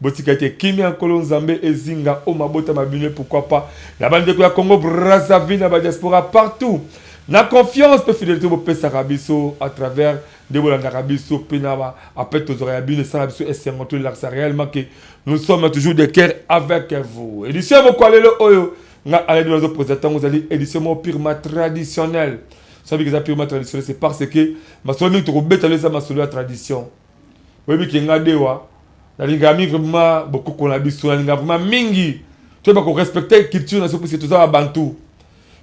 Botika te kimia nkolo nzambe ezinga o mabota ma bino pourquoi pas na bandeko ya Congo Brazzaville na ba diaspora partout na confiance pe fidelite bopesaka biso à travers nde bolandaka biso pe na ba appel tozwaka ya bino esala biso esengo tolakisa réellement que nous sommes toujours de cœur avec vous édition ya mokwa lelo oyo nga aladi nazo posa ntango ozali édition moko purement traditionnelle soki eza purement traditionnelle c'est parce que masolo mingi tokobeta lelo eza masolo ya tradition Oyebi ke nga dewa nalingaka mingi vraiment bokoko na biso nalingaka vraiment mingi toyeba ko respecter culture na biso puisque toza babantu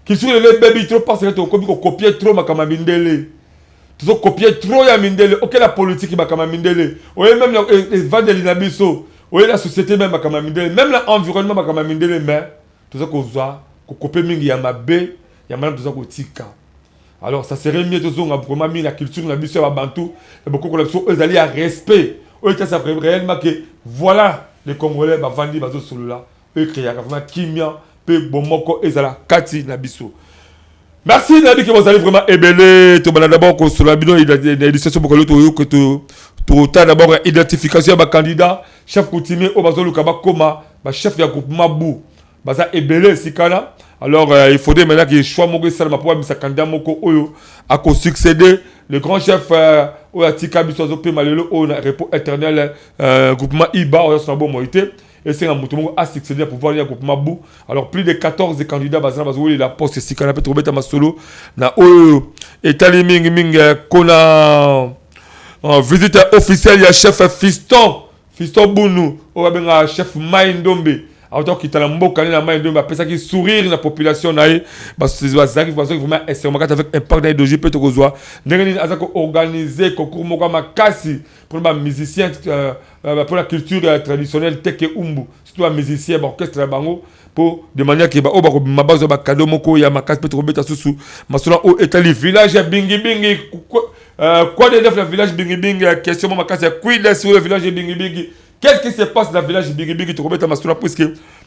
culture lelo ebebi trop parce que tokomi kokopie trop makambo ya mindele tozokopie trop ya mindele okela politiki makambo ya mindele oye meme na e, evandeli na biso oye na société meme makambo ya mindele meme na environnement makambo ya mindele mais toza kozwa kokope mingi ya mabe ya malamu toza kotika Alors ça serait mieux tozonga vraiment mingi na culture na biso ya babantu ya bokoko na biso oyo ezali ya respect oyo etyasa réellement ke voilà les congolais bavandi bazosolola oyo ekreaka vraiment kimia mpe bomoko ezala kati na biso merci nayebi ke bozali vraiment ebele tobanda d'abord kosolola bino na édition so bokoli toyoke totala d'abord ya identification ya bacandidat chef coutumier oyo bazoluka bakoma bachef ya groupement bu baza ebele esika wana alors euh, il faudrait maintenant que choix moko esalama mpo bamisa candidat moko oyo akosuccéder le grand chef euh, oyo atika biso azopema lelo oyo na repos éternel euh, groupement iba oyo azosona bomoi te esenga moto moko asuccéder na pouvoir ya groupement bu alors plus de 14 candidats baza na bazowelela poste esika na mpe tokobeta masolo na oyo etali mingimingi kona visite officielle ya chef fiston Fiston Bunu oyo babengaka chef Mai Ndombe awuta kokita na mboka ne na Mai Ndombe apesaki sourire na population na ye bazalaki bazwaki vraiment esengo kati avec impact na Edoji mpe tokozwa ndenge nini aza ko organiser concours moko ya makasi mpona ba musicien euh, euh, mpona culture euh, traditionnelle teke umbu surtout ba musicien ba orchestre na bango mpo de manière ke baoyo bakobima bazwa bakado moko ya makasi mpe tokobeta susu masolo oyo etali village ya bingibingi Euh, quoi de neuf na village bingibingi ya question mo makasi ya kwida sur le village bingibingi qu'est-ce qui se passe na village bingibingi tokobeta masuna puiske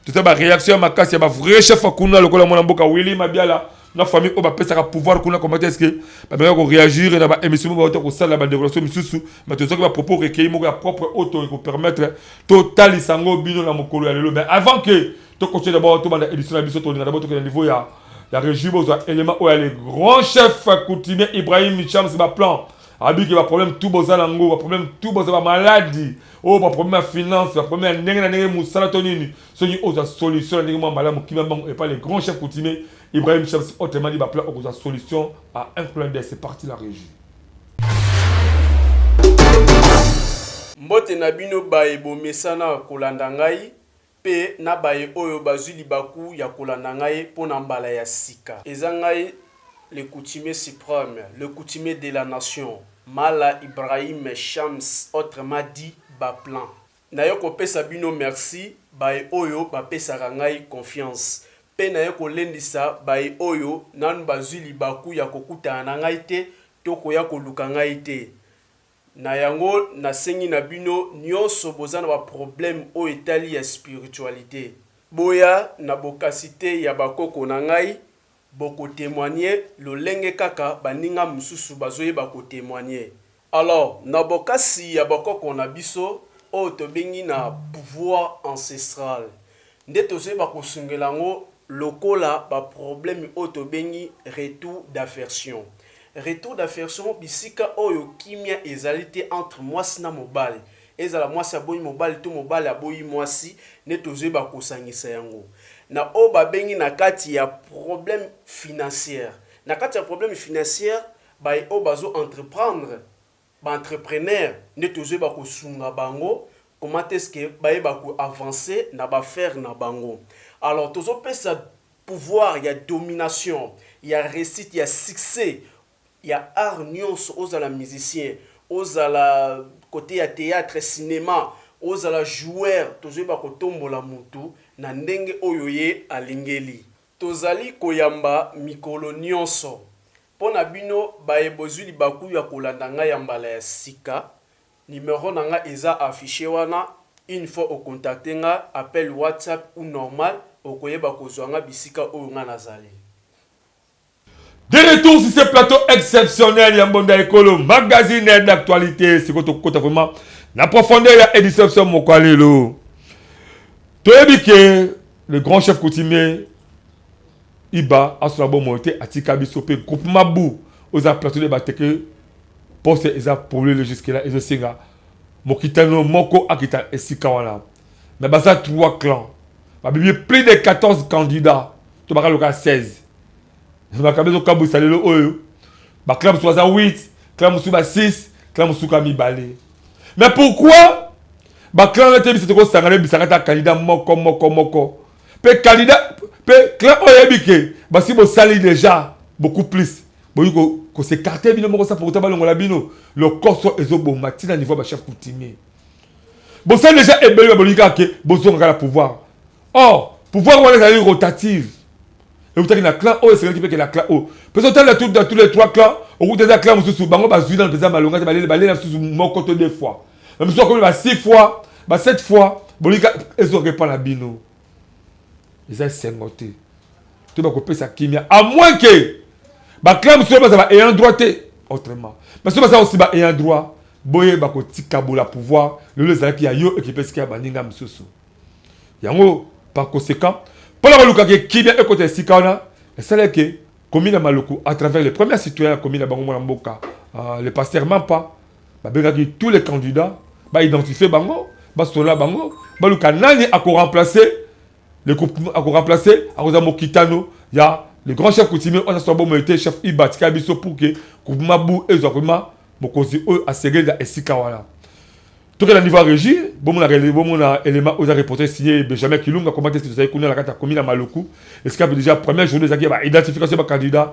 toza baréaction ya makasi ya bavrai chef kuna lokola mwana mboka willi mabiala na famille oyo bapesaka pouvoir kuna komata eske bameka koréagir na baémission mo bauta kosala badecoration misusu ma tozoki bapropos recueilli moko ya propre oyo tokoki kopermettre totalisa yango bino na mokolo ya lelo mais avant que tokotye dabord tobanda édition na biso tolinga dabord tokende niveau ya ya régie bozwa élément oyo ya le grand chef coutumier ibrahim michams baplan abiki baproblème tout boza na yango baproblème tout boza bamaladi oyo oh, baproblème ya finance baproblème ya ndenge na ndenge mosala to nini soki ozwa solution na ndenge mwa mbala mokima mbango epa le grand chef coutumier ibrahim michams otemadi baplan okozwa solution à un clin d'œil c'est parti la régie mbote na bino baye bomesana kolanda ngai Mpe na baye oyo bazwi libaku ya kolanda ngai mpo na mbala ya sika. Eza ngai le coutumier supreme, le coutumier de la nation, Mala Ibrahim Shams autrement dit Baplan. Naye kopesa bino merci baye oyo bapesaka ngai confiance, mpe naye kolendisa baye oyo nanu bazwi libaku ya kokutana na ngai te to koya koluka ngai te. Na yango na sengi na bino nionso boza na ba problème oyo etali ya spiritualite boya na bokasite ya ba koko na ngai boko temoigne lolenge kaka baninga mususu bazo yeba ko temoigne alors na bokasi ya ba koko na biso oyo tobengi na pouvoir ancestral Nde tozoyeba kosungela yango lokola ba probleme oyo tobengi retour d'aversion. Retour d'aversion bisika oyo kimia ezali te entre mwasi na mobali, ezala mwasi aboyi mobali to mobali aboyi mwasi, nde tozoyeba kosangisa yango na oyo babengi na kati ya probleme financiere. Na kati ya probleme financiere, baye oyo bazo entreprendre Ba entrepreneurs nde tozo yeba ko sunga bango comment est ce que ba yeba ko avancer na ba affaires na bango. Alors tozo pesa pouvoir ya domination, ya reussite, ya succès ya art nionso ozala musicien, ozala cote ya theatre, cinema, ozala joueur tozo yeba ko tombola mutu na ndenge oyo ye alingeli. Tozali koyamba mikolo nionso Mpo na bino baye bozwi libaku ya kolanda ngai ya mbala ya sika, numero na nga eza afficher wana, une fois o contacter nga, appel WhatsApp ou normal, okoyeba kozwa nga bisika oyo nga nazali. De retour sur ce plateau exceptionnel ya Mbonda Ekolo, magazine d'actualité. Sikoyo tokokota vraiment na profondeur ya edition biso moko ya lelo. Toyebi ke le grand chef coutumier Iba azo na bomoi te atika biso pe groupe mabu oza plateau de bate que poste eza polele jusque là ezo senga mokitano moko akita esika wana mais baza trois clans ba bimi plus de 14 candidats to baka loka 16 makambo ezo kabuisa lelo oyo ba clans mosusu baza 8 clans mosusu ba 6 clans mosusu ka mibale mais pourquoi ba clans na te biso toko sangana bisaka ta candidat moko moko moko mpe candidat mpe clan oyo ayebi ke basi bosali deja beaucoup plus boyi kosekarte bino moko sa pourtant balongola bino lokoso ezoboma ntina niveau ya bachef coutumier bosali deja ebele babolingi kaka ke bozongaka na pouvoir or pouvoir wana ezali rotative eutaki na clan oyo esengelaki mpe ke na clan oyo mpe sotali na tous les trois clan okuta eza clan mosusu bango bazwi nano mpenza malonga te balela mosusu moko to deux fois na biso akomi ba 6 fois ba 7 fois bolika ezwaka epa na bino eza esengo te to bakopesa kimia a moins ke baclan mosusu baza ba ayant droit te autrement baso baza osi ba ayant droit boye bakotikabola pouvoir lelo ezalaki ya yo ekipe esika ya baninga mosusu yango par conséquent mpo na kolukaka kimia ekota esika wana esala ke komi na maluku à travers le premier citoyen ya komi na bango mwana mboka euh, le pasteur mampa babengaki tous les candidats baidentifie bango basola bango baluka nani akoremplace le groupe akoremplace akozala mokitano ya le grand chef coutumier oyo azaswa bomoi te chef iba atika biso pour ke groupema bu ezwa vraimen mokonzi oyo asengeli na esika wana tokenda niveau ya régie bomona élément oyo eza reporter signé benjamin kilunga komate tozali kuna na kati ya komi na maluku esika mpe déjà première journée ezalaki ya baidentification ya bacandidat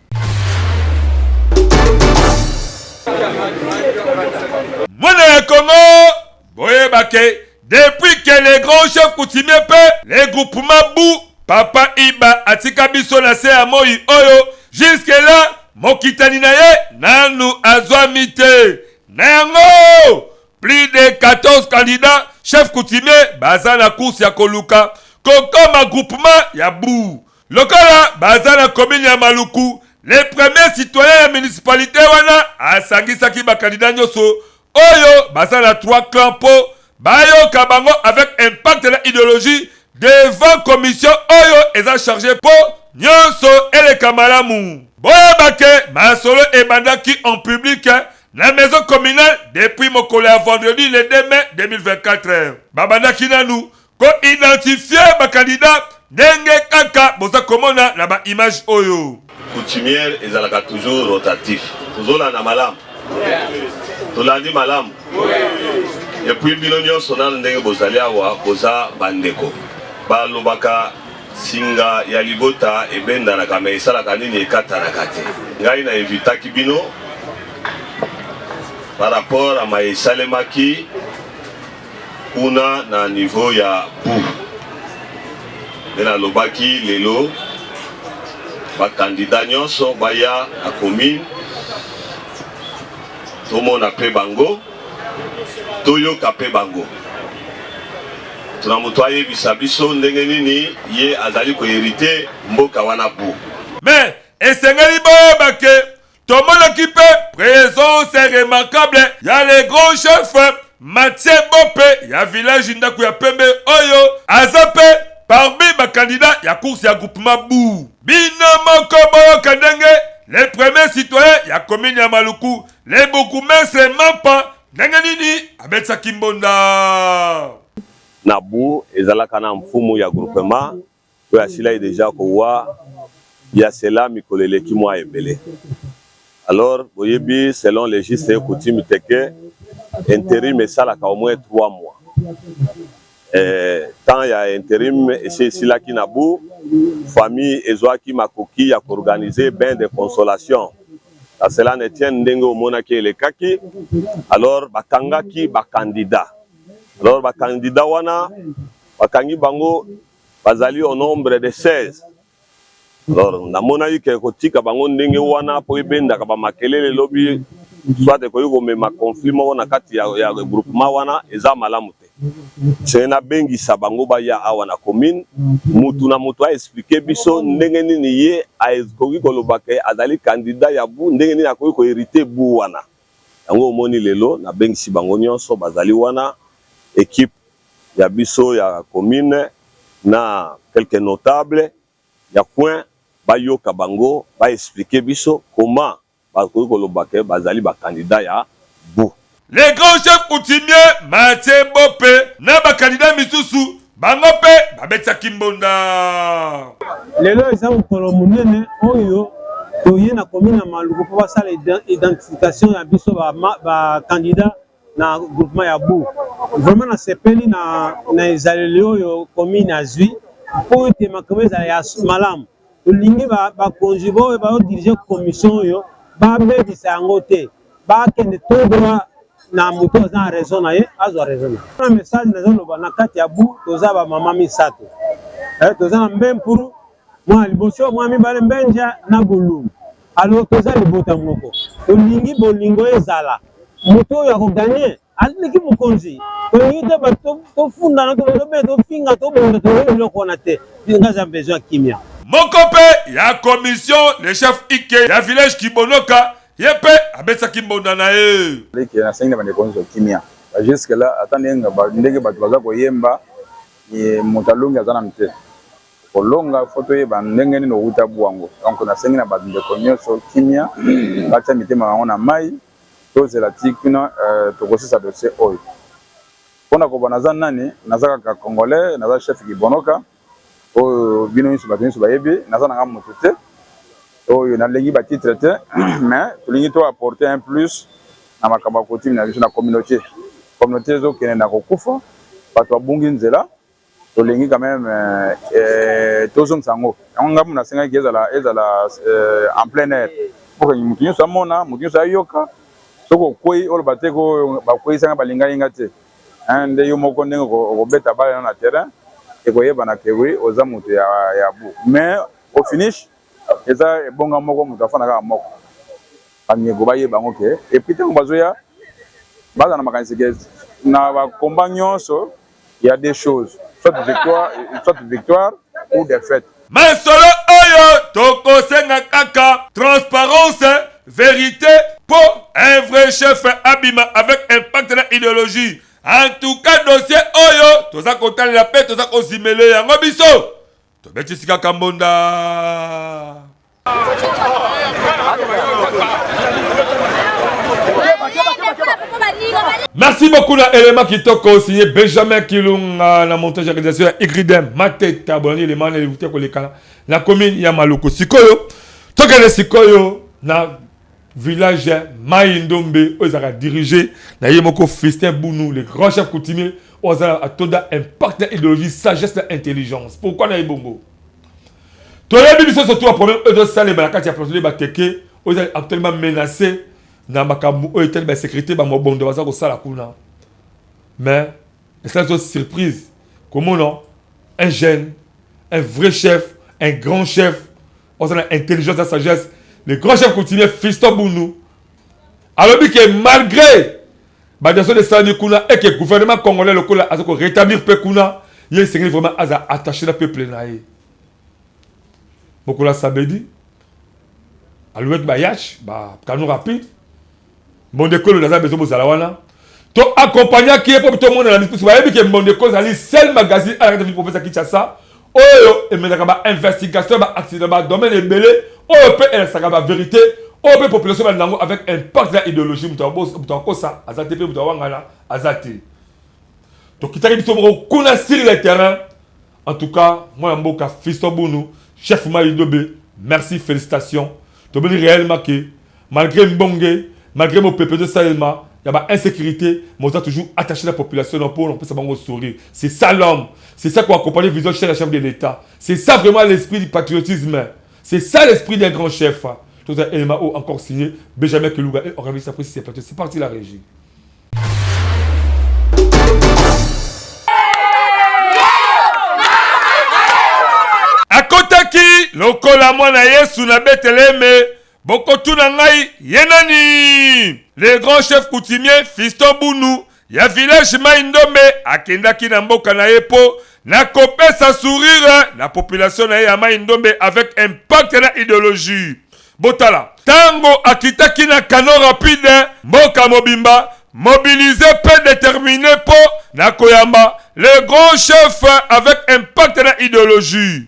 mwana ya kongo boyeba ke depuis ke le grand chef coutumier mpe le groupement bu papa iba atika biso na se ya moi oyo juske la mokitani na ye nanu azwami te na yango plus de 14 candidats chef coutumier baza na course ya koluka kokoma groupement ya bu Lokola baza na commune ya Maluku, le premier citoyen ya municipalite wana asangisaki ba candidats nyoso oyo baza na trois clans mpo bayoka bango avec impact na ideologie devant commission oyo eza charge mpo nyoso eleka malamu. Boyeba que masolo ebandaki en public na maison communale depuis mokolo ya vendredi le 2 mai 2024. Babandaki nanu Ko identifier ba candidats ndenge kaka boza komona na ba images oyo. Coutumiere ezalaka toujours rotatif. Tozolanda malamu? Tolandi malamu? Et puis bino nionso nanu ndenge bozali awa boza ba ndeko. Balobaka singa ya libota ebendanaka mais esalaka nini ekatanaka te. Ngai na invitaki bino par rapport à maye esalemaki kuna na niveau ya bu nde nalobaki lelo bakandida nyonso baya na commune tomona mpe bango toyoka mpe bango tuna moto ayebisa biso ndenge nini ye azali koherite mboka wana bu me esengeli boyeba ke tomonaki mpe presence remarkable ya le grand chef matie bope ya village ndako ya pembe oyo aza mpe parmi bakandida ya course ya groupema bu bino moko boyoka ndenge le premier citoyen ya komini ya maluku le bourgmestre mampa ndenge nini abetisaki mbonda na bu ezalaka na mfumu ya groupema oyo asilaki dejà kowa ya cela mikolo eleki mua ebele. Alors boyebi selon les justes et coutumes te que interim esalaka au moins trois mois. Eh, temps ya interim esi esilaki na bu, famille ezuaki makoki ya ko organiser bain de consolation. A cela ne tienne ndenge omonaki elekaki, alors bakangaki ba candidats. Alors ba candidats wana Bakangi bango bazali au nombre de 16. Alors namonaki ke kotika bango ndenge wana mpo ebendaka ba makelele lobi soit ekoki komema conflit moko na kati ya, ya groupement wana eza malamu te. Se nabengisa bango baya awa na commune, mutu na mutu a expliquer biso ndenge nini ye akoki koloba ke azali candidat ya bu, ndenge nini akoki ko heriter bu wana. Yango omoni lelo nabengisi bango nionso bazali wana equipe ya biso ya commune na quelques notables ya coin bayoka bango ba expliquer biso comment bakoki koloba que bazali ba candidats ya bout. Le grand chef coutumier Mathieu Bope na ba candidats misusu bango mpe babetisaki mbonda. Lelo eza mokolo monene oyo toye na commune ya Maluku mpo basala identification ya biso ba candidats na groupement ya bu vraiment nasepeli na, na ezaleli oyo commune azwi mpo ete makambo ezala ya malamu tolingi bakonzi ba oyo baodirige commission oyo babebisa yango te bakende todwa na moto aza na raison na ye azwa raison na ye na message nazoloba na kati ya bu toza bamama misato eh, toza na mbempuru Mwana liboso, mwana mibale, Mbenja na Gulu. Alors toza libota moko, tolingi bolingo ezala. Moto oyo ako gagner aleki mokonzi. Tolingi te bato tofundana, tolobela, tofinga, tobunda, tolingi biloko wana te. Nga za besoin kimia. Moko mpe ya commission, le chef Ike ya village Kibonoka, ye mpe abetsaki mbonda na ye. Leke, nasengi na bandeko nyonso kimia. Ba jusque là, ata ndenge bato baza koyemba, moto alongi aza nanu te. Okolonga faut toyeba ndenge nini owuta buango donc nasengi na ba ndeko nioso kimia batia mitema bango na mayi tozela ti kuna tokosisa dossier oyo pona koba naza nani naza kaka congolais naza chef kibonoka oyo bino nioso batu nioso bayebi naza nanga mutu te oyo nalengi ba titre te mais tolingi to apporter un plus na makambo ya coutume na biso na communaute communaute ezokende na kokufa batu babungi nzela tolingi quand même euh, tozongisa yango yango ngai mona asengaki ezala ezala euh, en plein air mpo moto nyonso amona moto nyonso ayoka soki okwei oloba te ko bakweisa ngai balingaki ngai te nde yo moko ndenge okobeta bale na na terrain ekoyebana ke wi oza moto ya, ya bu mais au finish eza ebonga moko moto afanda kaka moko bamyeko bayeba yango ke epuis ntango bazoya baza na makanisi ke na bakomba nyonso Il y a deux choses, soit victoire, soit victoire ou défaite. Masolo oyo tokosenga kaka transparence, verite po un vrai chef abima avec impact na ideologie. En tout cas dossier oyo toza kotalela pe toza kozimele yango biso tobeti sika kambonda. Merci beaucoup na élément kitoko signé Benjamin Kilunga na montage organisation ya Igridem Mateta bolani élément na l'évité kolekana na commune ya Maluku sikoyo tokende sikoyo na village Mayi Ndombe oyo ezalaka dirigé na ye moko Fistin Bunu le grand chef coutumier oyo azala atoda impact na idéologie sagesse na intelligence pourquoi na ye bongo toyebi biso surtout ba problème oyo ezosalema na kati ya plateau bateke oyo ezali actuellement menace na makambo oyo etali basécurité bamobondo baza kosala kuna mais esala biso surprise komona un jeune un vrai chef un grand chef oza na intelligence na sagesse le grand chef coutumier fisto bundu alobi ke malgré Ba diason esalami kuna et que gouvernement congolais lokola aza ko rétablir pe kuna ye esengeli vraiment aza attaché na peuple na ye. Mokolo ya samedi alouette ba yash ba canon rapide mbonde kolo naza besoin bozala wana to accompagnaki ye mpo tomonana misusu bayebi ke mbonde kolo ezali sel magazine alakata vi profesa kinshasa oyo emelaka ba investigation ba accident ba domaine ebele oyo pe elakisaka ba verite oyo pe population balanda yango avec impact ya ideologie moto akosa aza te pe moto awangana aza te tokitaki biso moko kuna sur le terrain en tout cas mwana mboka fisto bunu chef mayidobe merci félicitations tobeli réellement que Malgre mbonge, malgre mopepe ezo salema ya ba insecurite, mais oza toujours attache na population na po na kopesa bango sourire. C'est ça l'homme. C'est ça ko accompagner vision chère ya chef de l'Etat. C'est ça vraiment l'esprit du patriotisme. C'est ça l'esprit d'un grand chef. Toza elema o encore signé Benjamin Kiluga et Oravis après c'est parti. C'est parti la régie. Akotaki lokola mwana Yesu na Beteleme Bokotuna ngai ye nani? Le grand chef coutumier Fiston Bunu ya village Mayi Ndombe akendaki na mboka na ye po na kopesa sourire na population na ye ya Mayi Ndombe avec impact na ideologie. Botala, tango akitaki na canon rapide, mboka mobimba mobilise pe determine po na koyamba le grand chef avec impact na ideologie.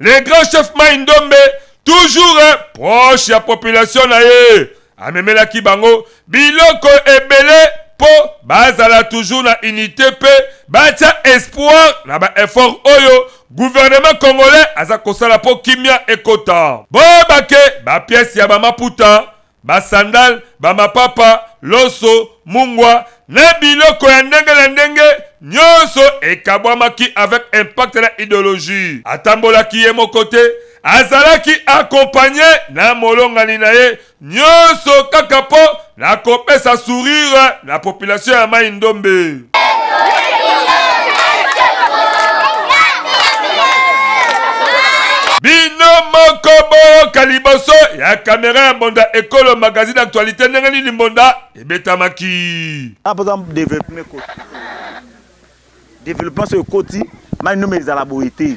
le grand chef mai ndombe toujours eh, proche ya population na ye amemelaki bango biloko ebele mpo bazala toujours na unité mpe batya espoir na baeffort oyo guvernema congolais aza kosala mpo kimia ekota boyebake bapiese ya bamaputa basandale, bamapapa, loso, mungwa na biloko ya ndenge na ndenge nyonso ekabwamaki avec impact na ideologie. Atambolaki ye moko te, azalaki accompagne na molongani na ye, nyonso kaka po na kopesa sourire na population ya Mayi Ndombe. bino moko boyoka liboso ya kamera ya mbonda ekolo magazine actualité ndenge nini mbonda ebetamaki apoza developpement ekoti developpement so ekoti mai nome ezala boye te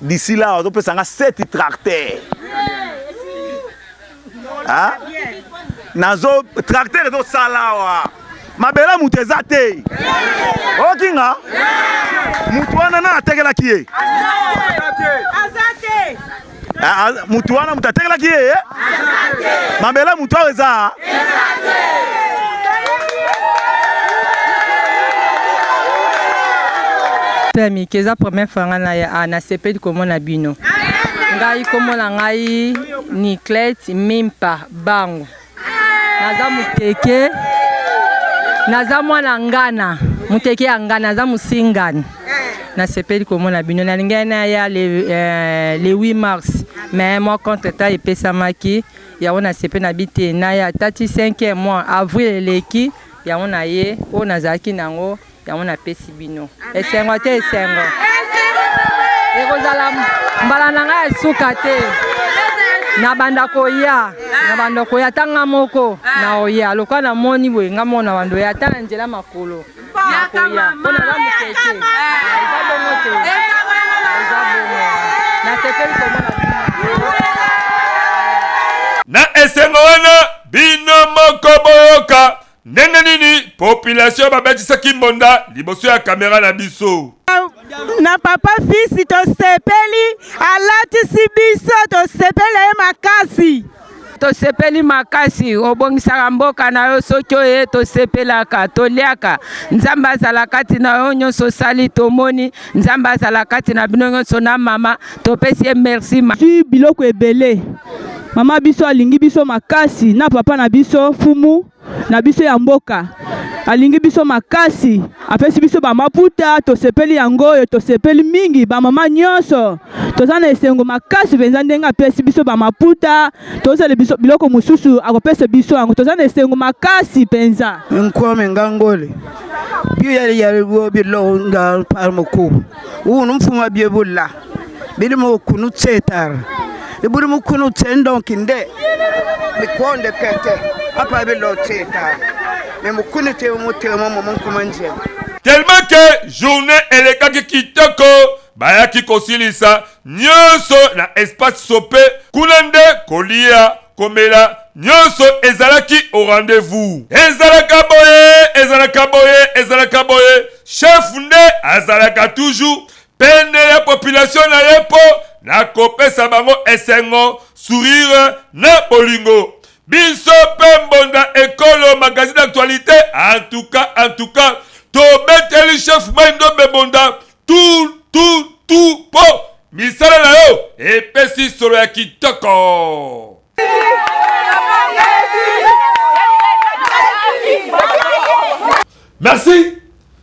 D'ici là, on peut s'engager sept tracteurs. Hein? Nazo tracteur ezo salawa. Mabela mutu eza te. Okinga? Mutu wana na atekelaki ye. Azate. Mutu wana mutu atekelaki ye. Mabela mutu aza. ya mike eza première fois ngai na ah, nasepeli komona bino ngai komona ngai niclete mimpa bango naza moteke naza mwana ngana moteke ya ngana naza mosingani nasepeli komona bino nalingaki naya le, euh, le 8 mars mais mwa contre temps epesamaki Yango na sepe na bi te na ya tati cinquième mois avril eleki yango na ye oyo na zalaki na yango yango na pesi bino esengo te esengo ekozala mbala na ngai ya suka te na banda koya na banda koya ata nga moko na oya lokola na moni boye nga moko na banda oya ata na nzela makolo nakoya mpo na ba moke te eza bongo te eza bongo nasepeli komona na esengo wana bino moko boyoka ndenge nini population babetisaki mbonda liboso ya kamera na biso na papa fisi tosepeli alatisi biso tosepeli ye makasi Tosepeli makasi obongisaka mboka na yo soki oye tosepelaka toliaka nzambe azala kati na yo nyonso osali tomoni nzambe azala kati na bino nyonso na mama topesi ye merci si biloko ebele mama biso alingi biso makasi na papa na biso fumu na biso ya mboka alingi biso makasi apesi biso bamaputa tosepeli yango oyo tosepeli mingi bamama nyonso toza na esengo makasi mpenza ndenge apesi biso bamaputa tozala biso biloko mosusu akopesa biso yango toza na esengo makasi mpenza nkwame ngangole biyaliyali bilonga palmoko unu mfuma byebulla bili mo kunu tsetar ibuli mo kunu tsendon kinde mi konde kete apa bi lo tsetar me mo kunu te mo te mo mo kuma nje tellement que journée elekaki kitoko bayaki kosilisa nyonso na espace sope kuna nde kolia komela nyonso ezalaki au rendez-vous ezalaka boye ezalaka boye ezalaka boye chef nde azalaka toujours pene ya population na ye mpo na kopesa bango esengo sourire na bolingo biso mpe mbonda ekolo magazine d'actualité antuka antuka tobeteli chef mai ndombe mbonda tu tu tu mpo misala na yo epesi solo ya kitoko merci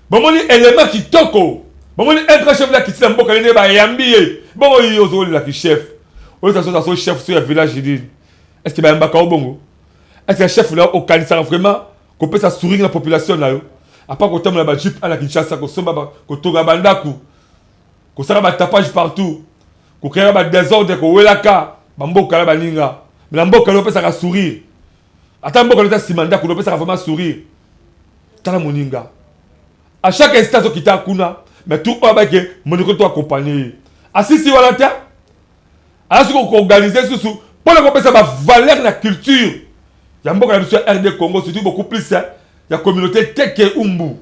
bomoni elema kitoko bomoni un chef la kitina mboka nene bayambi ye bongo yo ozolela ki chef oyo taso taso chef so ya village nini est ce que bayambaka yo bongo est ce que chef na yo okanisaka vraiment kopesa souring na population na yo apa kotambola ba jupe ana kinshasa kosomba kotonga bandako kosala batapage partout kokreaka badesordre kowelaka bamboka na baninga me na mboka leo opesaka sourire ata mboka lota nsima ndako nopesaka vraiment sourire tala moninga à chaque instant azokita kuna mais tout oyo abaki moniko to accompagne ye asisi wana te aza soki koorganize lisusu mpo na kopesa bavaleur na culture ya mboka na biso ya rd congo surtout beaucoup plus ya communauté teke umbu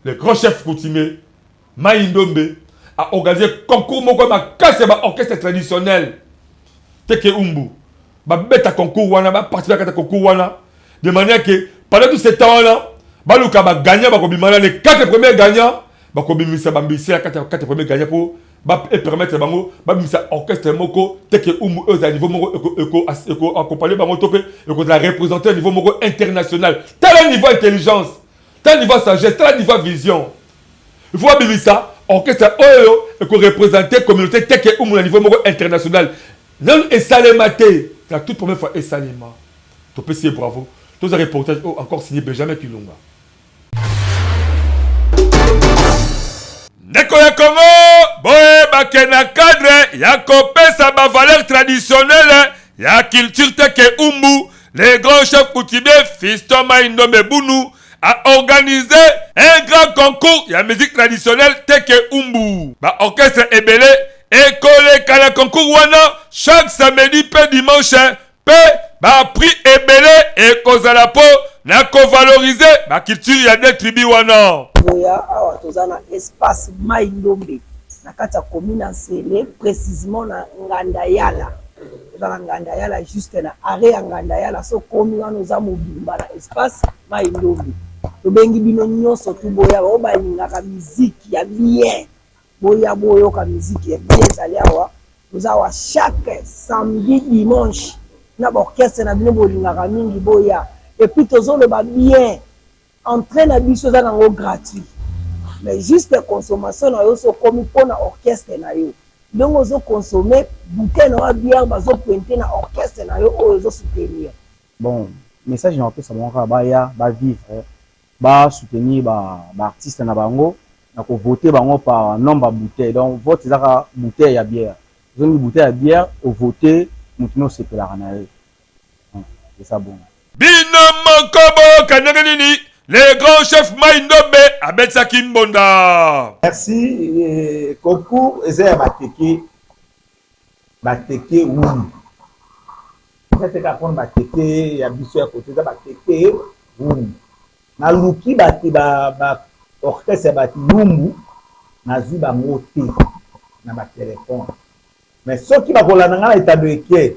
le grand chef coutumier Mayi Ndombe a organise concours moko makasi ya ba orchestre traditionnel teke umbu babeta concours wana baparticipe kata concours wana de manière que pendant tout ce temps wana baluka bagagnant bakobima na les quatre premiers gagnants bakobimisa bambisi ya kati ya quatre premiers gagnants mpo epermettre bango babimisa orchestre moko teke umbu oyo ezala niveau moko ekoaccompagne bango to mpe ekozala représente niveau moko international tala niveau intelligence Tala niveau sagesse, tala niveau vision. Il faut abimisa orchestre oyo eko représenter communauté teke umu na niveau moko international. Nanu esalema te. La toute première fois esalema. Topesi ye bravo. Toza reportage oyo encore signé Benjamin Kilunga. ndeko ya kongo boyebake na cadre ya kopesa bavaleur traditionnele ya culture teke umbu Le grand chef coutumier Fiston Maindombe Bunu a organisé un grand concours ya musique traditionnelle Teke Umbu. Ba orchestre ebele ekoleka na concours wana chaque samedi pe dimanche pe ba prix ebele ekozala po na ko valoriser ba culture ya deux tribus wana. Boya awa toza na espace Maindombe na kati ya commune ya Nsele precisement na Ngandayala. Eza na Ngandayala juste na arret ya Ngandayala so komi wana oza mobimba na espace mayi ndombe tobengi bino nionso tu boya oyo balingaka musique ya bien boya boyoka musique ya bien ezali awa oza wa chaque samedi dimanche na ba orchestre na bino bolingaka mingi boya epuis tozoloba bien Entree na biso eza nango gratuit mais juste consommation na yo so komi pona orchestre na yo ndenge ozo consomme bouteille na yo ya bière bazo pointe na orchestre na yo oyo ozo soutenir. Bon message na kopesa bango kaka baya ba vivre ba soutenir ba ba artistes na bango na ko voter bango par nombre ya bouteille donc vote eza kaka bouteille ya bière ozongi bouteille ya bière o voter mutu nde osepelaka na ye. eza bongo. Bino moko boyoka ndenge nini le grand chef Mai Ndombe abetisaki mbonda. Merci eh, concours eza ya bateke bateke wulu eza te kaka mpona bateke ya biso ya kote eza bateke wulu naluki bati ba, ba orchestre ya bati lumbu nazwi bango te na batelefone mais soki bakolanda ngai na etando eke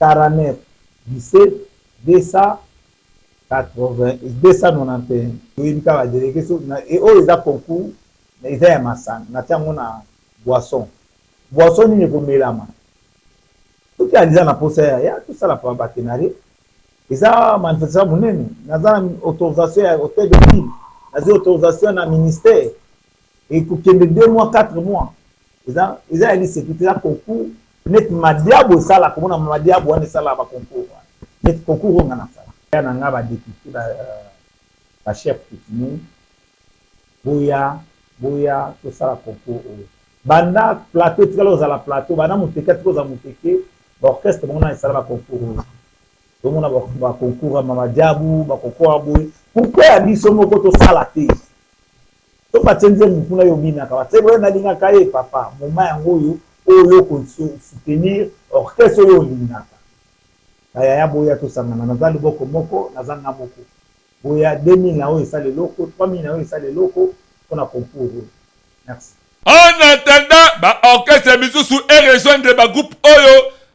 49 17 291 toyebi kaka ba delegues so na e oyo eza concours mais eza ya masanga natia yango na boisson boisson nini ekomelama soki aliza na posa ya ya tosala pa batenare eza manifestation monene naza na autorisation ya hotel de ville nazwi autorisation na ministère et kokende deux mois quatre mois eza eza ya lisepite eza concours neti madiabo esala komona madiabo wana esala ba concours wana neti concours oyo nga nasala ya na nga ba depute ba, euh, ba chef coutumier boya boya tosala concours oyo banda plateau etikala ozala plateau banda moteke atika ozala moteke baorchestre bango na esala ba concours oyo tomona ba concours ya mama diabu ba concours ya boye pourquoi ya biso moko tosala te to ba tie nzembo kuna yo obinaka ba tie na lingaka ye papa moma yango oyo oyo oko soutenir orchestre oyo olingaka ba yaya boya tosangana naza liboko moko naza nga moko boya 2000 na oyo esala eloko 3000 na oyo esala eloko mpona concours oyo merci En attendant, ba orchestre misusu e rejoindre ba groupe oyo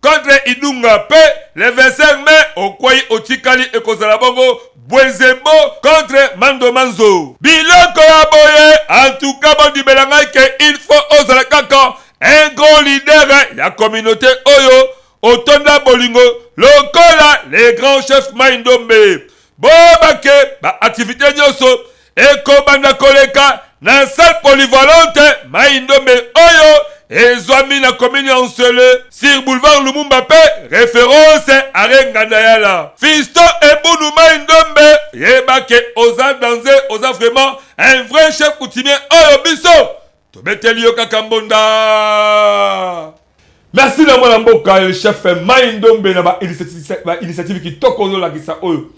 contre idunga pe le 25 mai okwei otikali ekozala bongo bwenzembo contre mando manzo biloko ya boye antuka bondimela ngai ke il faut ozala kaka un grand leader ya communauté oyo otonda bolingo lokola le grand chef mai ndombe boyeba ke baaktivité nyonso ekobanda koleka na salle polyvalente mai ndombe oyo ezwami na komini ya nsele sur boulevard lumumba mpe reference are ngandayala fisto ebunu mai ndombe yebake oza danze oza vraiment un vrai chef coutumier oyo biso tobeteli yo kaka mbonda merci na mwana mboka yo chef mai ndombe na bainitiative kitoko ozolakisa oyo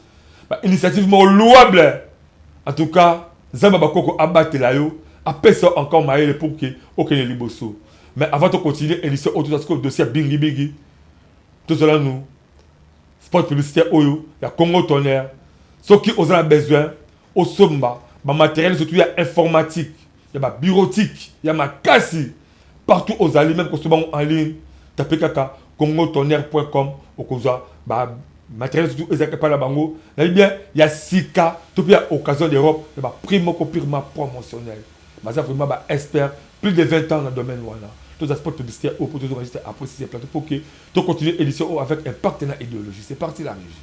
bainitiative moko louable en tout cas nzambe bakoko abatela yo apesa encore mayele pour ke okende liboso mais avant tocontinue émission oyo tozwa sikoyo dossier ya bingibingi tozwala nu sport publicitaire oyo ya congo tonnerre soki oza na besoin osomba bamateriel surtout ya informatique ya ba bureautique ya makasi partout ozali meme kosoba ngo en ligne tape kaka congotonnerre.com okozwa ba matériel surtout ezalaka epai na bango nayebi bien ya sika to mpe ya occasion d'europe ya ba prix moko purement promotionnel baza vraiment ba expert plus de 20 ans na domaine wana toza sport publicité oyo mpo tozoka juste après sise plateau mpo ke to continuer édition oyo avec impact na idéologie c'est parti la régie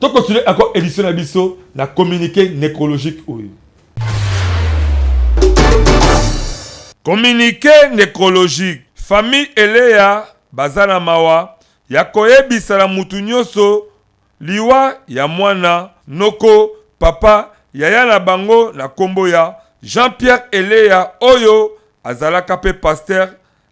To continuer encore édition na biso na communiqué nécrologique oyo. Communiqué nécrologique. Famille Eleya baza na mawa ya koyebisa na mutu nyonso liwa ya mwana noko papa yaya na bango na kombo ya Jean-Pierre Eleya oyo azalaka pe pasteur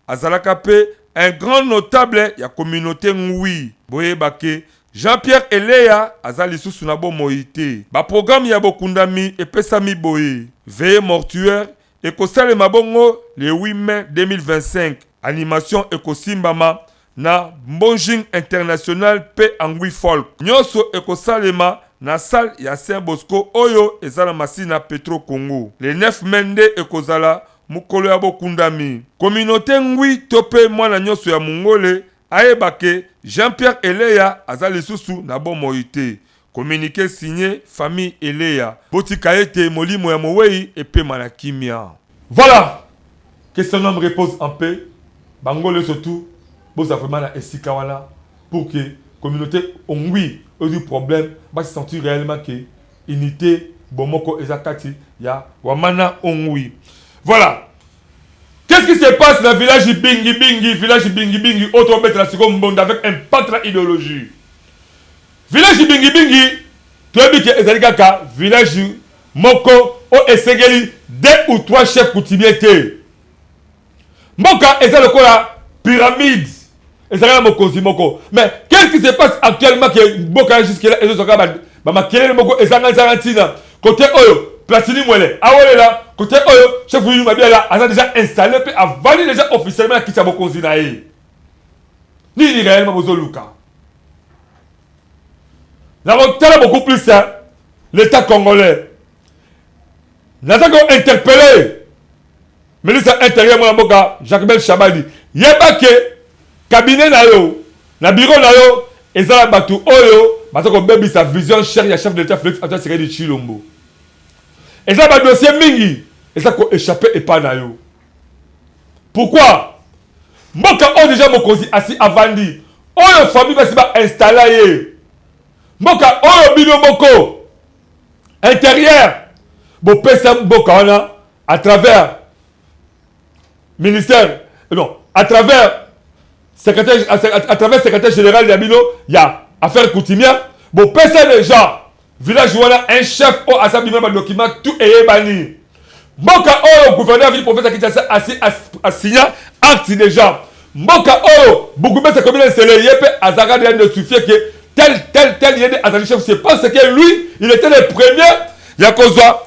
Azalaka pe un grand notable ya communaute ngui. Boyeba ke Jean Pierre Eleya aza lisusu na bomoi te. Ba programmes ya bokundami epesami boye, Veillez mortuaire ekosalema bongo le 8 mai 2025. Animation ekosimbama na Mbonjing International pe Angui Folk. Nionso ekosalema na salle ya Saint Bosco oyo eza na Masina Petro Congo. Le 9 mai nde ekozala Mokolo ya bokundami, communaute Ngwi to pe mwana nionso ya Mungole ayeba ke Jean-Pierre Eleya aza lisusu na bomoi te. Communique signe Famille Eleya. Botika ete molimo ya moweyi epema na kimia. Voilà! Que son ame repose en paix, ba ngole nioso tout boza vraiment na esika wana pour que communaute Ngwi oyo ezui problème ba se sentir reellement que unite bomoko eza kati ya wamana ongui voilà Qu'est-ce qui se passe dans le village Bingi Bingi, village Bingi Bingi, autre bête la seconde monde avec un pâtre idéologie. Village Bingi Bingi, tu as dit que ezali kaka village moko o esengeli deux ou trois chefs coutumiers te. Mboka eza lokola pyramide ezalaka na mokonzi moko mais qu'est-ce qui se passe actuellement ke mboka ya jusque là ezozwaka bamakelele moko ezanga ezanga ntina kote oyo platini mwele awelela kote oyo chef yulu mabiala aza deja installe mpe avandi deja officiellement na kiti ya bokonzi na ye nini réellement bozoluka nakotala beaucoup plus l'état congolais naza ko interpelle Ministre ya Interieur mwana mboka Jacmel Shabani, yeba ke cabinet na yo na bureau na yo eza na bato oyo baza kobebisa vision chère ya chef de l'État Félix Antoine Tshisekedi Tshilombo. Eza ba dossier mingi eza ko échapper epai na yo. Pourquoi? mboka oyo deja mokonzi asi avandi oyo famille basi bainstalla ye mboka oyo bino moko interieur bopesa mboka wana à travers ministère eh non à travers secrétaire à, à, à travers secrétaire général ya bino ya affaire coutumière bopesa déjà village wana un chef oyo aza bima badocument tout eyebani mboka oyo gouverneur ville professeur kinshasa asigna acte déjà mboka oyo bourgmestre commune nsele ye mpe azalaka deja notifie ke tel tel tel ye nde azali chef c'est parce que lui il était le premier ya kozwa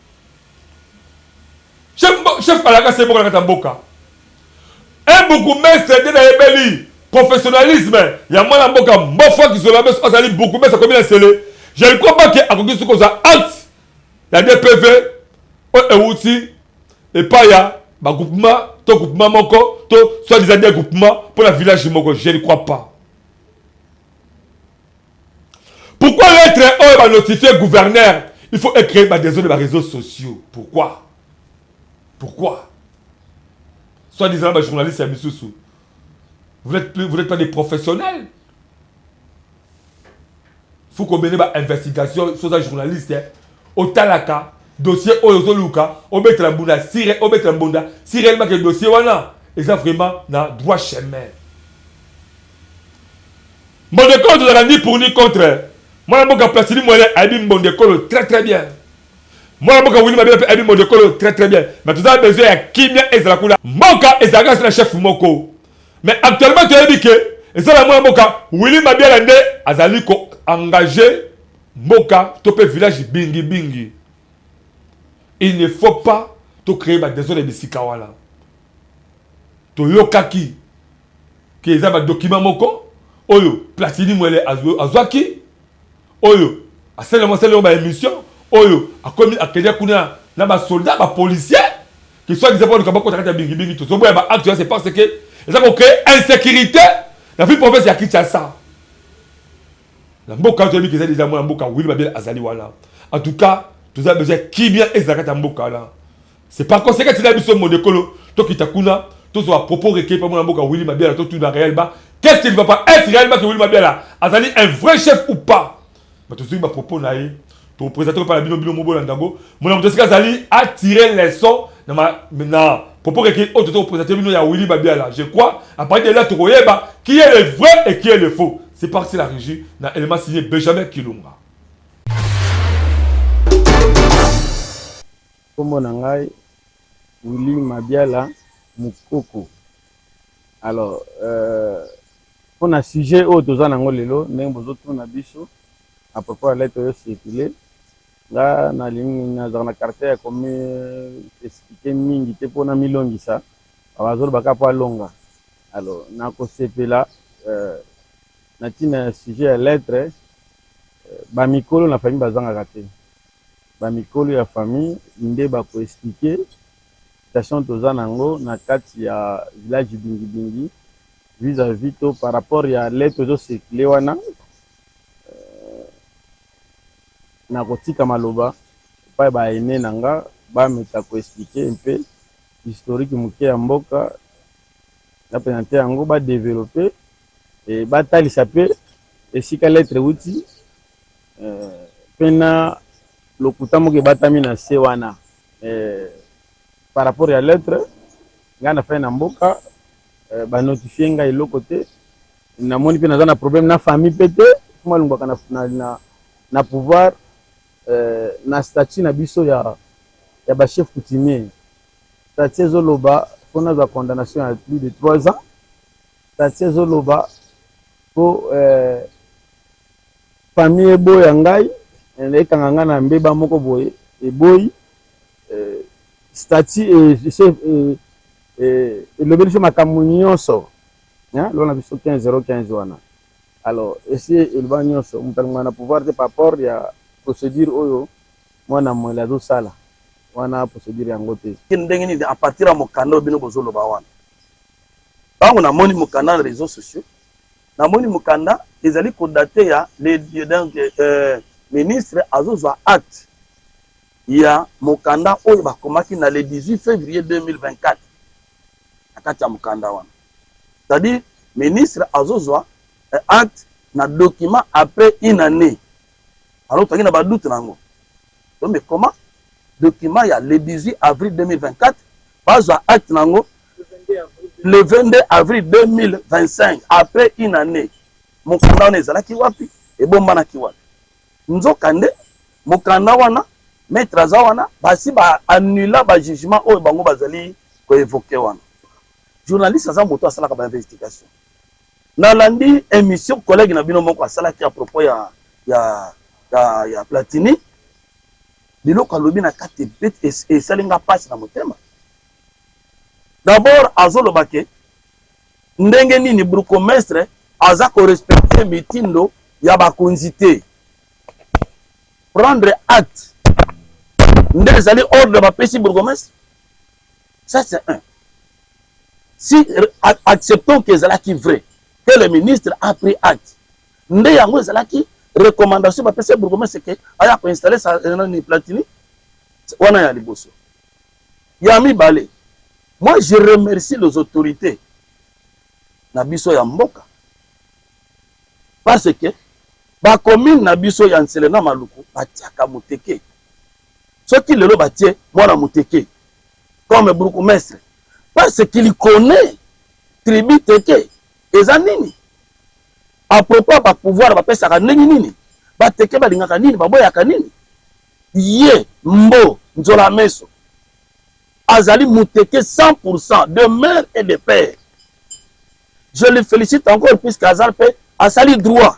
chef chef alaka se boka kata mboka un bourgmestre de na yebeli professionnalisme ya mwana mboka mbofo kizola beso azali bourgmestre akomi na sele je ne crois pas que akoki soki kozwa acte ya dpv oyo ewuti epai ya bagroupement to groupement moko to soit disant de groupement mpo na village moko je ne crois pas Pourquoi lettre oyo ba notifier gouverneur il faut écrire ba desordre ba réseaux sociaux pourquoi pourquoi soit disant ba journaliste ya misusu vous n'êtes plus vous n'êtes pas des professionnels faut qu'on mene ba investigation soza journaliste eh? otalaka dossier oyo ozoluka obetela mbunda sire obetela mbunda sire elima ke dossier wana eza vraiment na droit chemin Mbondekolo tozalaka ni pour ni contre. Mwana mboka Placidi Mwele ayebi Mbondekolo très très bien. Mwana mboka Willy Mabela pe ayebi Mbondekolo très très bien. Mais tozala besoin ya kimia ezala kuna. Mboka ezalaka se na chef moko. Mais actuellement toyebi que eza na mwana mboka Willy Mabela nde azali ko engager mboka to pe village bingi bingi. Il ne faut pas to créer ba désordre bisika wana. Toyokaki ke eza ba document moko oyo Platini Mwele azwaki oyo asalelamo asalelamo ba emission oyo akomi akedia kuna na ba soldat ba policier ke soit disant baluka bakota kati ya bingibingi tozoboya ba acte wana c'est parce que eza kocree insécurité na ville province ya Kinshasa na mboka wana toyebi ke eza deja mwana mboka wili babele azali wana en tout cas toza besoin kimia ezala kati ya mboka wana c'est pas koseka tina biso modekolo tokita kuna tozwa propos recueilli pa mwana mboka Willy Mabiala totuna Real Ba qu'est-ce qu'il va pas est Real Ba que Willy Mabiala azali un vrai chef ou pas mais tozwi ba propos na ye topresente pa na bino bino mobolanda yango mona moto esika azali attirer leçon na ma na propos recueilli oyo tozo kopresente bino ya Willy Mabiala je crois à partir de là tokoyeba qui est le vrai et qui est le faux c'est parti la régie na élément signé Benjamin Kilunga Kombo na ngai Willy Mabiala Mukoko alors euh pona sujet oyo toza na yango lelo ndenge bozo tuna biso à propos ya lettre oyo circule nga na lingi nazala na caractère ya komi expliquer mingi te pona milongisa bazo loba kaka po alonga alors na kosepela euh na tina ya sujet ya lettre ba mikolo na famille bazangaka te ba mikolo ya famille nde ba ko expliquer situation toza na yango na kati ya village Bingi Bingi vis à vis to par rapport ya lettre ezo circuler wana nako tika maloba epai ba aines na nga ba meka ko expliquer un peu historique moke ya mboka na presenter yango ba developper et ba talisa pe esika lettre ewuti. Pe na lokuta moko ebatami na se wana par rapport ya lettre. Ngai nafandi na mboka, ba notifier ngai eloko te. Namoni pe naza na problème na famille pe te. Mfumu alongwaka na pouvoir na statut na biso ya ba chefs coutumiers. Statut ezoloba po nazwa condamnation ya plus de trois ans. Statut ezoloba po Famille eboya ngai, ekanga ngai na mbeba moko boye, eboyi eh, statut elobeli biso makambo nyonso lokola na biso 15 015 wana alors esi eloba nyonso moto alingaka na pouvoir te par rapport ya procédure oyo mwana mwele azosala wana procédure yango te ndenge nini à partir ya mokanda oyo bino bozoloba wana ntango namoni mokanda na réseaux sociaux Na moni mukanda ezali ko date ya le donc euh, ministre azo zwa acte ya mukanda oyo bakomaki na le 18 fevrier 2024 na kati ya mukanda wana c'est-à-dire ministre azo zwa euh, acte na document après une année alors toki na ba doute nango Non mais comment document ya le 18 avril 2024 bazwa acte nango le 22 avril 2025 après une année mokanda wana ezalaki wapi ebombanaki wapi nzokande mokanda wana maître aza wana basi ba annula ba jugement oyo bango bazali koevoke wana journaliste aza moto asalaka ba investigation nalandi émission collègue na bino moko asalaki à propos ya ya ya, ya platini biloko alobi na kati ebeti esali nga mpasi na motema d'abord azoloba ke ndenge nini bourgmestre aza korespecte mitindo ya bakonzi te prendre acte nde ezali ordre bapesi bourgmestre Ça, c'est un. Si, euh, acceptons que ezalaki vrai, que le ministre a pris acte. Nde yango ezalaki recommandation bapesa bourgmestre ke aya koinstalle sa euh, nani platini wana ya liboso ya mibale moi je remercie les autorités na biso ya mboka parce que bacommune na biso ya nsele na maluku batiaka moteke soki lelo batie mwana moteke comme bourgmestre parce qu'il connaît tribu teke eza nini à propos ya bapouvoir bapesaka ndenge nini bateke balingaka nini baboyaka nini ye mbo nzola meso azali muteke 100% de mère et de père je le félicite encore puisque aza mpe asali droit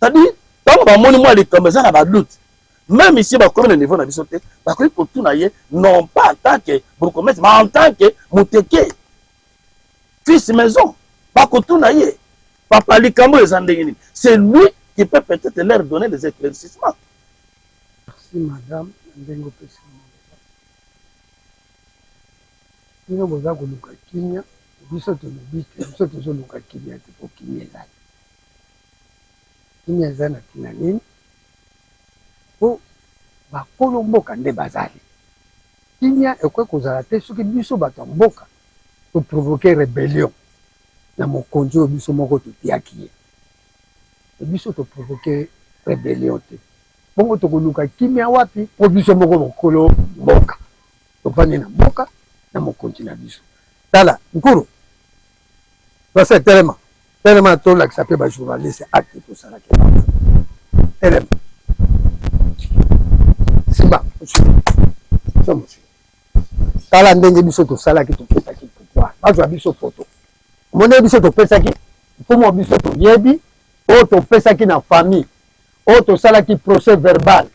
tadi ntango bamoni mwa likambo eza na badute meme ici bakomi na niveau na biso te bakoki kotuna ye non pas en tant que bourgmestre mais en tant que moteke fils maison bakotuna ye papa likambo eza ndenge nini c'est lui qui peut peut-être leur donner des éclaircissements merci madame ndenge opesi bino boza koluka kimia biso tolobi te biso tozoluka kimia te po kimia ezali kimia eza na ntina nini po bakolo mboka nde bazali kimia ekoki kozala te soki biso bato ya mboka toprovoke rebellion na mokonzi oyo biso moko totiaki ye biso toprovoke rebellion te bongo tokoluka kimia wapi po biso moko bokolo mboka tovandi na mboka na mokonzi na biso tala nkuru nase telema telema tolakisa mpe bajournaliste acte tosalaki telema simba tala ndenge biso tosalaki topesaki pouvoir bazwa biso foto omoni biso topesaki mfumu wa biso toyebi oyo topesaki na famille oyo tosalaki procès verbal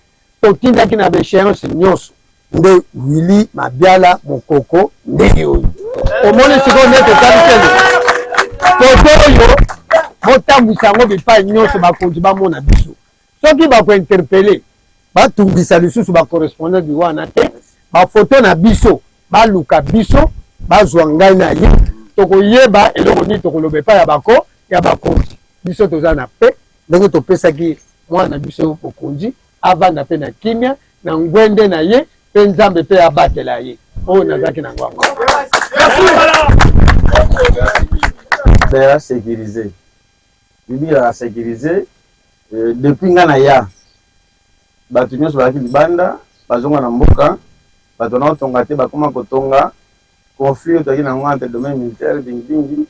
Totindaki na ba echeances nyonso. Nde Willy Mabiala Mokoko ndenge oyo. Omoni sikoyo nde totali kende. Foto oyo botambwisa yango bipai nyonso bakonzi bamona biso. Soki bakointerpele batungisa lisusu bacorrespondant di wana te bafoto na biso baluka biso bazwa ngai na ye tokoyeba eloko nini tokolobeka ya bako ya bakonzi biso toza na pe Ndenge topesaki mwana na biso bokonzi, avanda mpe na kimia na ngwende na ye, mpe Nzambe mpe abatela ye. Oyo nazalaki na yango yango. Sekirize bibila na sekirize euh, depuis nga na ya bato nyonso bazalaki libanda bazonga na mboka bato wana otonga te bakoma kotonga conflit oyo tozalaki na yango entre domaine militaire bingilingi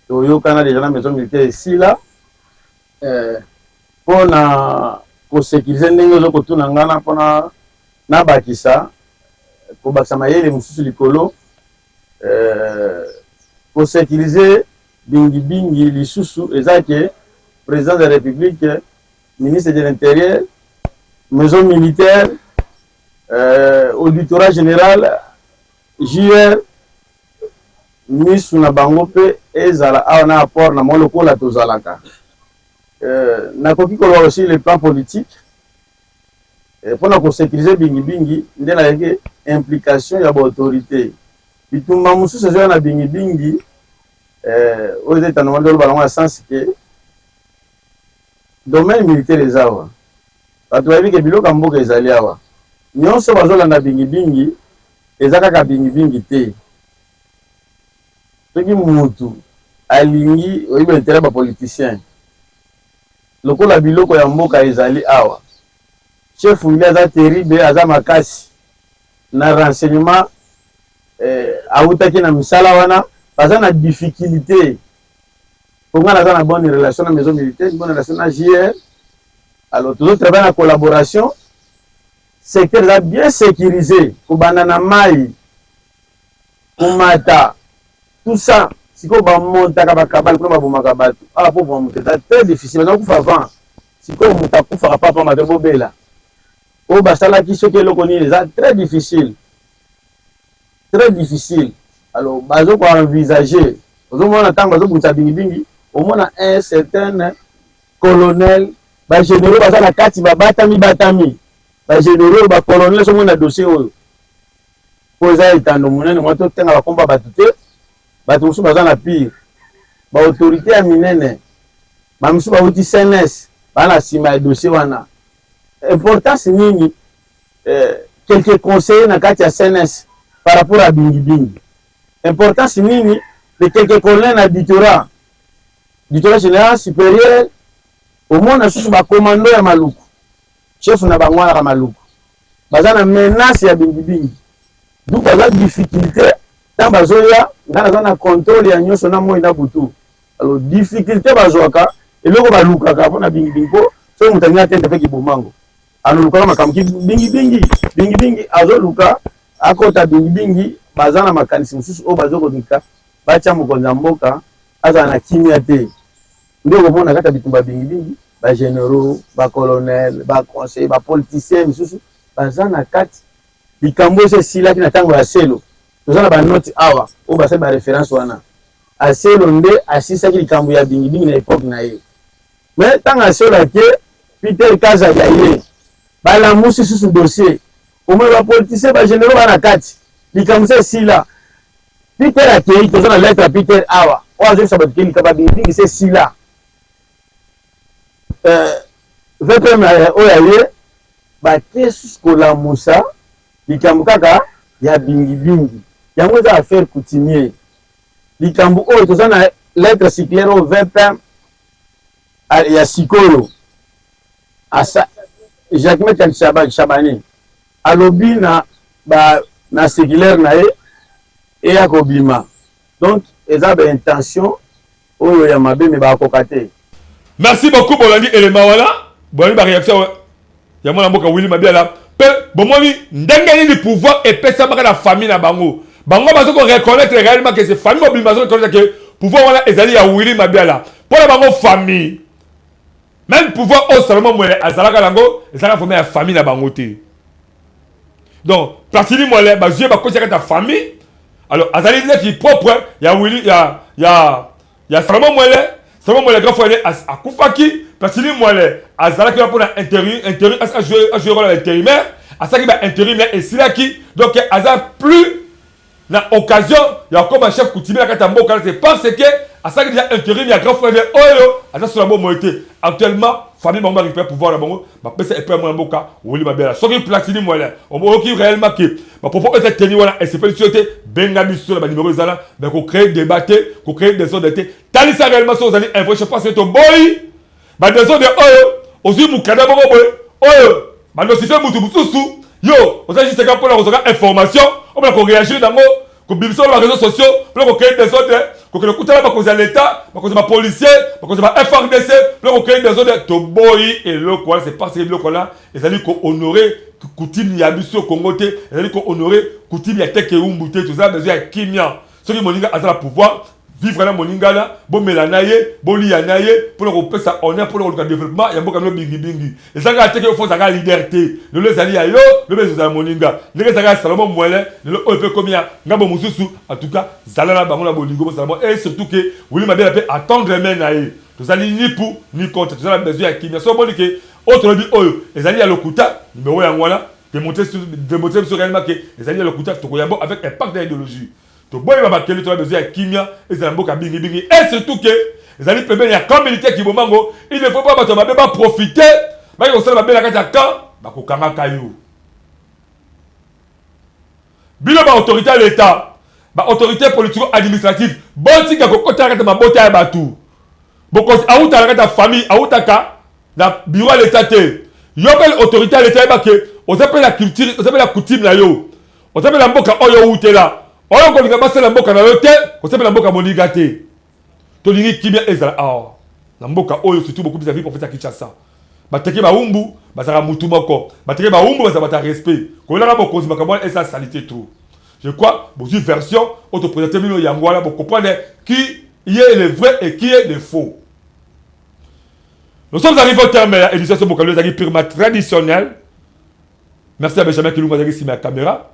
toyokana deja na maison militaire esila eh, mpo na kosekirize ndenge ozo kotuna ngai na mpona nabakisa kobakisa mayele mosusu likolo eh, kosekirize bingibingi lisusu eza ke président de la république ministre de l'intérieur maison militaire euh, auditorat général JR misu na bango pe ezala awa na apport na mwa lokola tozalaka euh, nakoki koloba aussi le plan politique euh, mpo na kosekirize bingibingi nde nayeke implication ya baautorité bitumba mosusu ezoya na bingibingi euh, oyo eza etando mwa ndoloba nango ya sens ke Domaine militaire eza awa batu bayebi ke biloko ya mboka ezali awa nionso bazo landa bingi bingi eza kaka bingi bingi te soki mutu alingi oyebi interet ya ba politiciens lokola biloko ya mboka ezali awa chef wili aza terrible aza makasi na renseignement eh, awutaki na misala wana baza na difficulté Ponga naza na bonne relation na maison militaire, bonne relation na JR. Alors toujours travailler na collaboration. Secteur eza bien sécurisé, kobanda na mai, komata, tout ça. Sikoyo bamontaka bakabale kuna babomaka bato. Ah, po boma moto eza très difficile, baza kufa avant. Sikoyo moto akufaka papa mabe bobela. Oyo basalaki soki eloko nini eza très difficile. très difficile alors bazo ko envisager ozomona ntango bazobundisa bingibingi omona un certain colonel bagénéraux baza na kati babatami batami bagénéraux bacolonel somo na dossier oyo mpo eza etando monene mwa totenga bakomba bato te bato mosusu baza na pire baautorité ya minene bamisusu bauti cns baa na nsima ya dossier wana importance nini eh, quelques conseillers na kati ya CNS par rapport à bingi bingi importance nini les quelques colonels na Bitora Bitora général supérieur omona susu ba commando ya maluku chef na bango wana maluku baza na menace ya bingi bingi donc baza difficulté ntango bazoya nga naza na contrôle ya nyonso na moi na butu alors difficulté bazwaka eloko balukaka mpo na bingi bingi mpo soki moto alingi atenda mpe kibomango alukaka makambo ki bingi bingi bingi bingi azoluka akota bingi bingi baza na makanisi mosusu oyo bazokonika batya mokonzi ya mboka azala na kimia te nde okomona kati ya bitumba bingi bingi bageneraux bacolonel baconseil bapoliticien misusu baza na kati likambo oyo esilaki na ntango ya selo toza na banoti awa oyo basali bareference wana aselo nde asisaki likambo ya bingi bingi na epoke na ye Mais tanga asola ke Peter Kaza ya ye balamusi susu dossier omona ba politicien ba generaux bana kati likambo se esila Peter akei toza na lettre ya Peter awa oyo azokisa bato ke likambo ya bingibingi se esila euh, vpm euh, oyo ya ye bake susu kolamusa likambo kaka ya bingibingi yango eza affaire coutumier likambo oyo toza na lettre circulaire oyo vpm ah, ya sikoyo asa Jacquemin Kalishaba Shabani alobi na ba na séculaire na ye eya kobima donc eza ba intention oyo ya mabe me bakoka te merci beaucoup bolandi elema wana bolandi ba réaction ya mwana mboka Willy Mabiala pe bomoni ndenge nini pouvoir epesamaka na famille na bango bango bazo ko reconnaître réellement que c'est famille mobimba bazo reconnaître que pouvoir wana ezali ya Willy Mabiala mpo na bango famille même pouvoir oyo Salomon Mwele azalaka nango ezalaka vraiment ya famille na bango te donc Platini Mwele bazwi ye bakotisaka ta famille alors azali leki propre ya Willy ya ya ya Salomon Mwele Salomon Mwele grand frère akufaki Platini Mwele azalaki là pour la intérim intérim a joué a joué rôle intérimaire asaki ba intérim mais esilaki donc aza plus na occasion ya kokoma chef coutumier na kati ya mboka te parce que asaki deja intérim ya grand frère oyo aza sola bomoi te actuellement famille bango barécupère pouvoir na bango bapesa epai ya mwana mboka woli babela soki platini mwele oyoki réellement ke ba propos oyo eza teni wana esepelisi yo te benga biso na banimero ezala me kocree debat te kocree desordre te talisa réellement soki ozali info je pense eto boyi badesordre oyo ozwi mokanda moko boye oyo banosife motu mosusu yo oza juste kaka mpona kozwaka information opona koreagir nango kobimisa wana bareseau sociaux mpona kocree desordre kokende kutala bakonzi ya leta bakonzi ya bapolicier bakonzi ya ba frdc mpona kocree desordre toboyi eloko wana se parce que biloko wana ezali ko honore coutume ya biso Congo te ezali ko honore coutume ya teke umbu te toza besoin ya kimia soki moninga aza na pouvoir vivre na moninga na bomela na ye boliya na ye mpona kopesa honneur mpona koluka développement ya mboka no bingibingi ezali kaka teke ofo ozalaka leader te lelo ezali ya yo lobi ezozala moninga ndenge ezalaka ya salomo mwele lelo oyo mpe ekomi ya ngambo mosusu en tout cas zala na bango na bolingo bozala mwa et surtout ke wili mabela mpe attendre main na ye tozali ni pour ni contre tozala besoin ya kimia so omoni ke Oyo tolobi oyo ezali ya lokuta, numero yango wana demontre biso réellement que ezali ya lokuta, tokoyambo avec impact ya ideologie. Toboyi ba bakeli to besoin ya kimia ezala mboka bingi bingi et surtout que ezali pembeni ya camp militaire Kibombango, il ne faut pas bato mabe ba profiter baki kosala mabe na kati ya camp bakokangaka yo. Bino ba autorite ya leta, ba autorite politico administrative botika kokota kati mabota ya batu. Bokozi awuta na kati ya famille, awutaka na bureau ya leta te. Yo pe autorite ya leta yeba ke oza pe na culture, oza pe na coutume na yo. Oza pe na mboka oyo owutela. Oyo kolinga basala mboka na yo te, kosepela mboka moninga te. Tolingi kimia ezala awa na mboka oyo surtout bokubi za vie prophète ya Kinshasa. Bateke baumbu bazaka mutu moko. Bateke baumbu baza bata respect. Kolelaka bokonzi makambo wana esa salite trop. Je crois bozui version oto presenter bino yango wana bo comprendre qui est le vrai et qui est le faux. Nous sommes arrivés au terme ya émission Soboka Lelo ezaki purement traditionnel. Merci à Benjamin Kilunga azalaki nsima ya camera.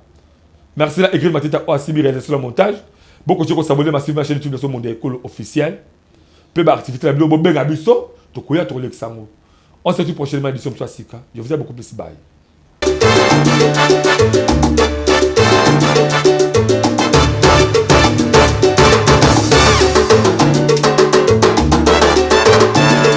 Merci na Egrid Matita oyo asimbi réalisation na montage. Bokoki kosabone masivi na chaîne YouTube na so Monde ya Ekolo officiel. Mpe baaktivité na bino bobenga biso tokoya tokolekisa yango. On se retrouve prochainement édition mosusu ya sika. Je vous aime beaucoup plus bye.